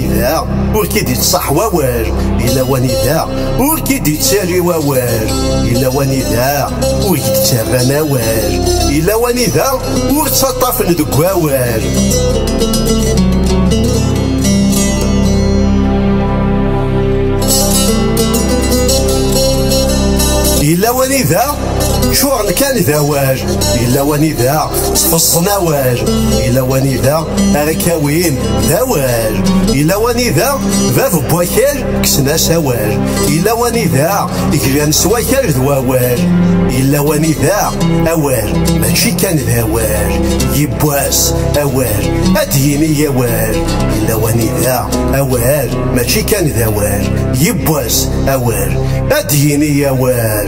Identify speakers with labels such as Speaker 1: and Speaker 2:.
Speaker 1: إذا ur k-id-ittṣaḥ wawal Yella wanida ur k-id-ittali wawal Yella wanida ur k-d-ttarran awal Yella wanida ur ttaṭṭafen deg wawal Yella wanida ččuren kan d awal Yella wanida ttfeẓẓen awal Yella wanida Ara kawin d awal Yella wanida bab n wakal kksen-as awal Yella wanida glan s wakal d wawal Yella wanida awal mačči kan d awal Yibbwas awal ad d-yini awal Yella wanida awal mačči kan d awal Yibbwas awal ad d-yini awal